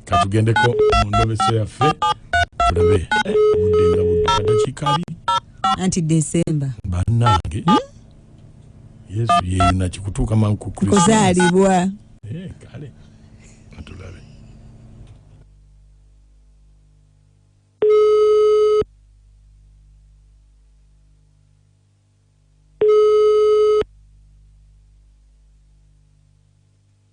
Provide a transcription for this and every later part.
katugendeko mu ndobeso yaffe tulabe obudde nga budde kadakiika abiri anti desemba bannange hmm? yesu yeyuna kikutuuka mangu ku kuzaalibwa eh, kale atulabe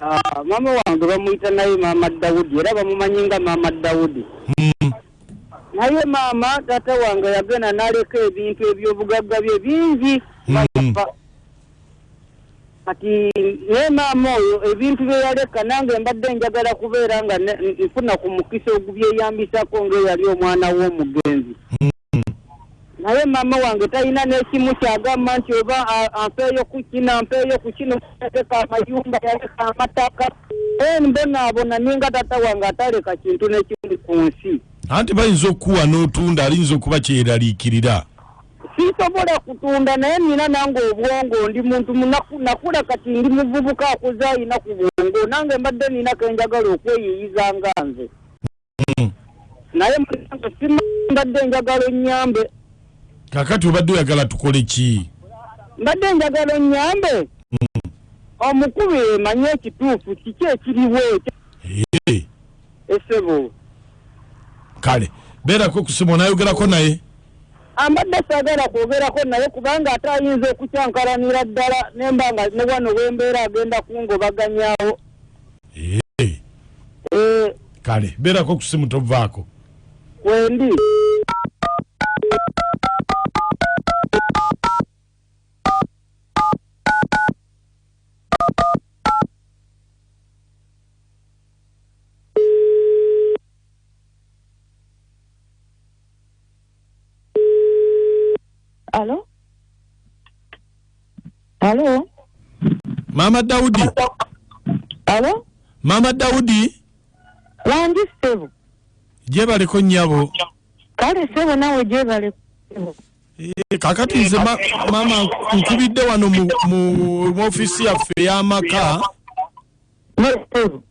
Ah, maama wange bamuyita naye maama dawudi era bamumanyi nga maama dawudi mm. naye maama taata wange yagenda naleka ebintu ebyobugagga bye bingi mm. kati naye maama oyo ebintu byeyaleka nange mbadde njagala kubeera nga nfuna ku mukisa ogubyeyambisako ngaeyali omwana w'omugenzi mm. naye maama wange talina n'ekimu kyagamba nti oba a- ampeeyo ku kino ampeeyo ku kino yaleka amayumba yaleka amataka e mbonaabona ninga taata wange ataleka kintu n'ekimu ku nsi anti bayinza okukuwa n'otunda aliyinza okuba kyeraliikirira sisobola kutunda naye nina nange obwongo ndi muntu munaku- nakula kati ndi muvubuka akuze alina ku bwongo nange mbadde nina kenjagala okweyiyiza nga nze mm. naye mbadde njagala onyambe kakati obadde oyagala tukole ki mbadde njagala onyambe mm. omukulu yemanye ekituufu kiki ekiriwo esebo kale beerako kusimu onayogerako naye ambadde sagala kwogerako naye kubanga ate ayinza okukyankalanira ddala nemba nga ne wano wembeera agenda kungobaganyawo Eh. kale beerako ku simu tovaako wendi Alo? Alo? maama dawudi Alo? maama dawudi Wangi ssebo. gyebaleko nnyabo Kale ssebo nawe gyebale ssebo. Eh, kakati nze ma- maama nkubidde wano mu- mu mu ofiisi yaffe ey'amaka Ne ssebo.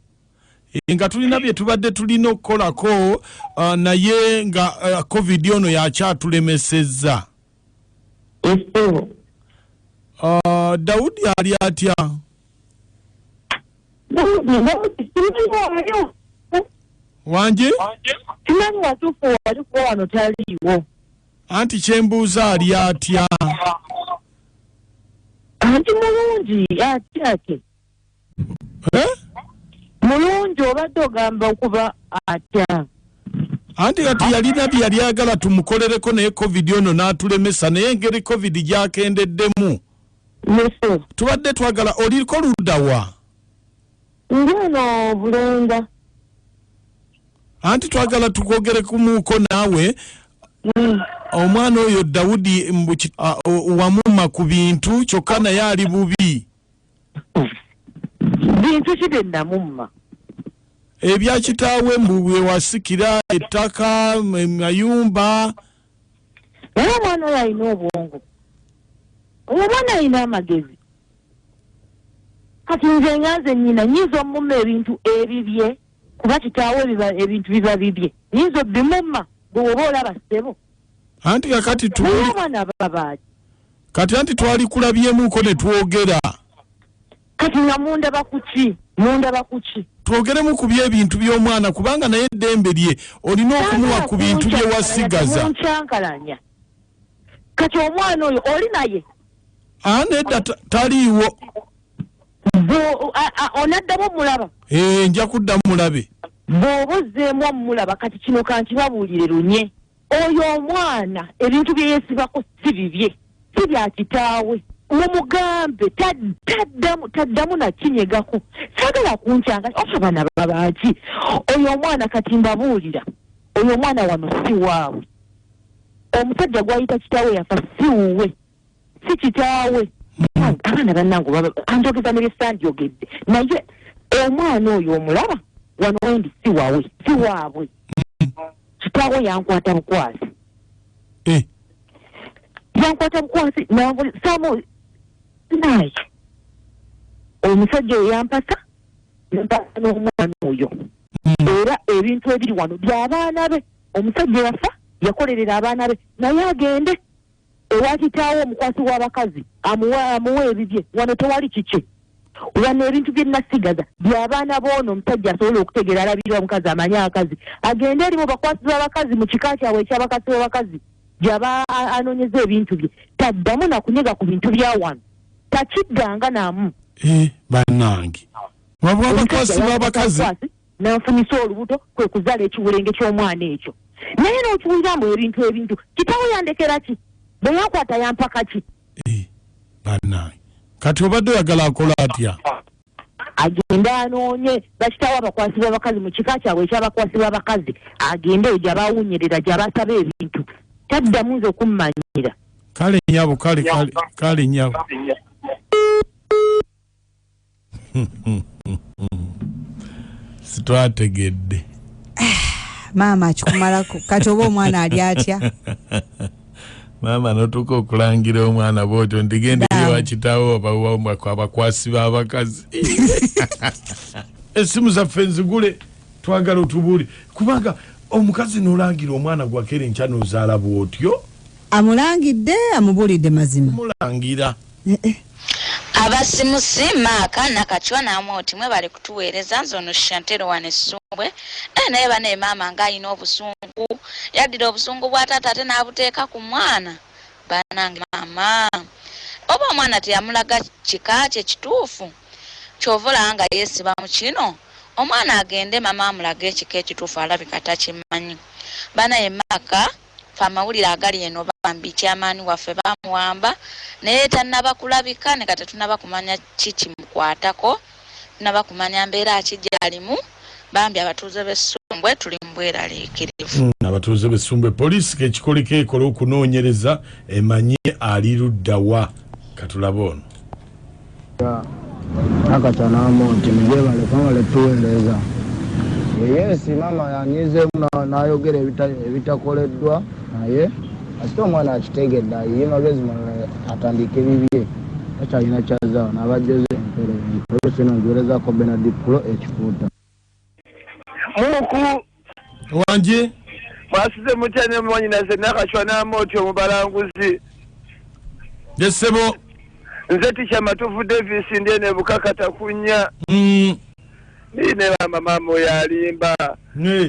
Eh, nga tulina bye tubadde tulina okukolako uh, naye nga uh, covid ono yakyatulemesezza uh, daudi ali atya wangi anti kyembuuza ali atya anti mulungi atyake Eh? mulungi obadde ogamba okuba atya anti kati yalina bye yali agala tumukolereko naye covid ono n'atulemesa naye engeri covid gyakendeddemu tubadde twagala oliko ludawa ndi eno bulenga anti twagala tukwogere kumuuko naawe mm. omwana oyo dawudi wamuma ku bintu kyokka naye ali bubi bintu ki bye namumma ebya kitaawe mbu byewasikira ettaka mayumba naye omwana oyo alina obwongo oyo omwana alina amagezi kati nze nga nze nyina nyinza omumma ebintu ebibye kuba kitaawe ebintu biba bibye nyinza obimumma bwewoba olaba ssebo anti kakati kati anti twali kulabyemuko ne twogera kati nga mundaba kuki mundaba kuki twogeremu ku byebintu by'omwana kubanga naye eddembe lye olina okumuwa ku bintu bye wasigaza nkyankalanya kati omwana oyo oli naye nedda taliiwo onaddamu omulaba eh, nja kuddamu mulabe bw'oba ozzeemu omulaba kati kino kankibabuulire lunye oyo omwana ebintu bye yeesibako si bibye si bya kitaawe mumugambe taddamu nakinyegako sagala kunkyanga oba abaana babaaki oyo omwana kati mbabuulira oyo omwana wano si waabwe omusajja gwayita kitaawe yafa si wuwe si kitaawe hmm. abaana bannange oba anjogeza ne byesandyogedde naye omwana oyo omulaba wano wendi si wawe si waabwe hmm. kitaawe yankwata bukwasi eh. yankwata bukwasi nansamu naye omusajja oyo yampasa mpasa n'omwana oyo hmm. era ebintu ebiri wano byabaana be omusajja yafa yakolerera abaana be naye agende ewa kitaawe omukwasi w'abakazi amuwa amuwa ebibye wano tewali kikye wano ebintu bye nasigaza byabaana boono omusajja asobola okutegeera alabirira omukazi amanyi abakazi agende eri mu bakwasi b'abakazi mu kika kyabwe ekyabakasi b'abakazi gyaba anoonyeza ebintu bye taddamu nakunyega ku bintu bya wano takiddanga namu eh, banange wabwa abakwasi b'abakazi Nanfunyisa olubuto kwe kuzala ekiwulenge ky'omwana ekyo. Naye n'okiwulira mbu ebintu ebintu kitawo yandekera ki? Bwe yankwata yampaka ki? Eh, bannange kati obadde oyagala akole atya? agende anoonye bakitawo abakwasi b'abakazi mu kika kyabwe ekyabakwasi b'abakazi agende eyo gyabawunyirira gyabasaba ebintu taddamu nze okummanyira kale nyabo kale kale nyabo sitwategedde maama akikumalako kati oba omwana ali atya maama notuuka okulangira omwana bwotyo ndigenda eri wakitawo abakwasi b'abakazi esimu zaffe nzigule twagala otubuli kubanga omukazi nolangira omwana gwakere nkya nozaala bwotyo amulangidde amubulidde mazima mulangira Abasimusi Mark Nakachwa ne Amooti mwebale kutuweereza nze ono Shantero wano Essumbwe eh naye banaye maama nga alina obusungu yaddira obusungu bwa taata ate n'abuteeka ku mwana banange maama oba omwana teyamulaga kika kye kituufu kyova olaba nga yeesiba mu kino omwana agende maama amulage ekika ekituufu alabika takimanyi banaye maaka Ffe amawulire agali eno bambi chairman waffe bamuwamba naye tanaba kulabika ne kati tetunaba kumanya ki kimukwatako tunaba kumanya mbeera ki gyalimu bambi abatuuze b'e Ssumbwe tuli mu bweraliikirivu. Hmm, abatuuze b'e Ssumbwe poliisi kekikoleko ekole okunoonyereza emanye ali ludda wa katulabe ono. Nakata Namonti mugyebale kwebale tuweereza. Yes maama yanyizeemu na- n'ayogera ebita- ebitakoleddwa naye kasita omwana akitegedde ayiye magezi malala atandike bibye takyalina kyazaawo n'abajjoze empero empero sino ngiwerezako benard pulo ekifuuta muku wangi mwasize mutya ne mwanyinaze nakacwa n'amooti omubalanguzi ye ssebo nze tikya matuvu davis ndi eno ebukakata kunya mm. ne maama maama oyo alimba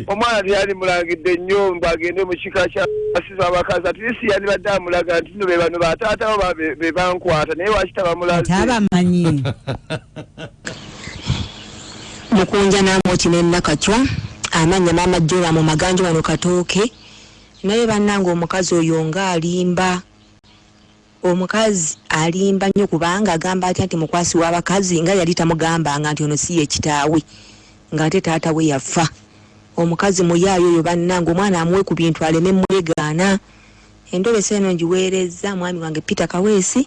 omwana teyali mulangidde nnyo mbu agende mu kika kyabasiza abakazi atlisi yandibadde amulaga nti no be bano bataatawo be bankwata naye wakita bamulaze Mukunja Namooti ne Nakachwa amannya maama Joram Maganjo wano Katooke naye bannange omukazi oyo nga alimba omukazi alimba nnyo kubanga agamba atya nti mukwasi w'abakazi nga yali tamugambanga nti ono si ye kitaawe ng'ate taata we yafa omukazi muyaayo oyo bannange omwana amuwe ku bintu aleme mwegaana endobesa eno ngiweerezza mwami wange Peter Kaweesi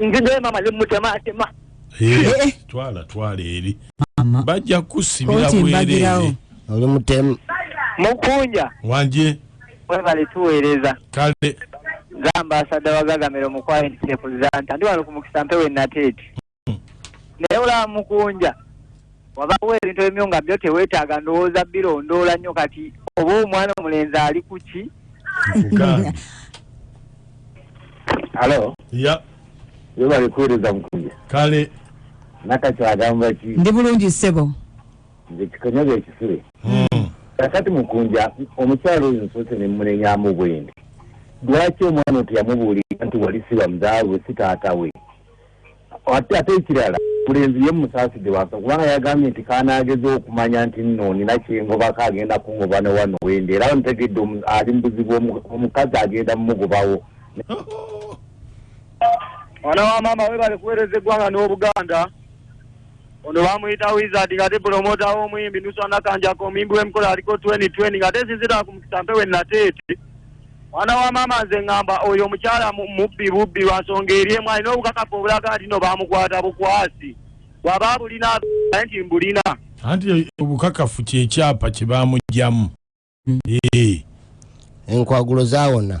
ndi naye maama ne mutemaatema eh, eh. twala twala eri bajja kukusibira bwereere oli mutemu mukunja wanje webale tuweereza kale gamba asadde wagagamira omukwayintiepuzanta ndi wano ku mukisa mpewe nateeti naye olaba mukunja wabawo ebintu ebimu nga byo tewetaaga ndowooza birondoola nnyo kati oba omwana omulenzi ali ku ki alo ya webale kuweereza mukunja kale nakati agamba ki ndi bulungi ssebo nze kikonyaga ekisule hmm. kakati mukunja omukyalo oyo nsoose ne mumunenyamu bwendi lwaki omwana oteyamubuulira nti wali siba mudaawe si taata we ate ate ekirala mulenzi ye musaaside wansa kubanga yagambye nti kanaageza okumanya nti nno nina kyengobako agenda kungoba ne wano wendi era ntegedde ali mu buzibu omukazi agenda mumugobawo mwana wa maama webale kuweereza eggwanga n'obuganda ono bamuyita wizard ngate promota w'omuyimbi nusanakanjako omuyimbi w'emikola aliko 2020 ngate sinzira ku mukisa mpewe nateete mwana wa maama nze ngamba oyo omukyala mu- mubbi bubbi lwansonga eri emu alina obukakafu obulaga nti no bamukwata bukwasi bwaba bulina naye nti mbulina anti obukakafu kyekyapa kyebamugyamu Eh. enkwagulo zawona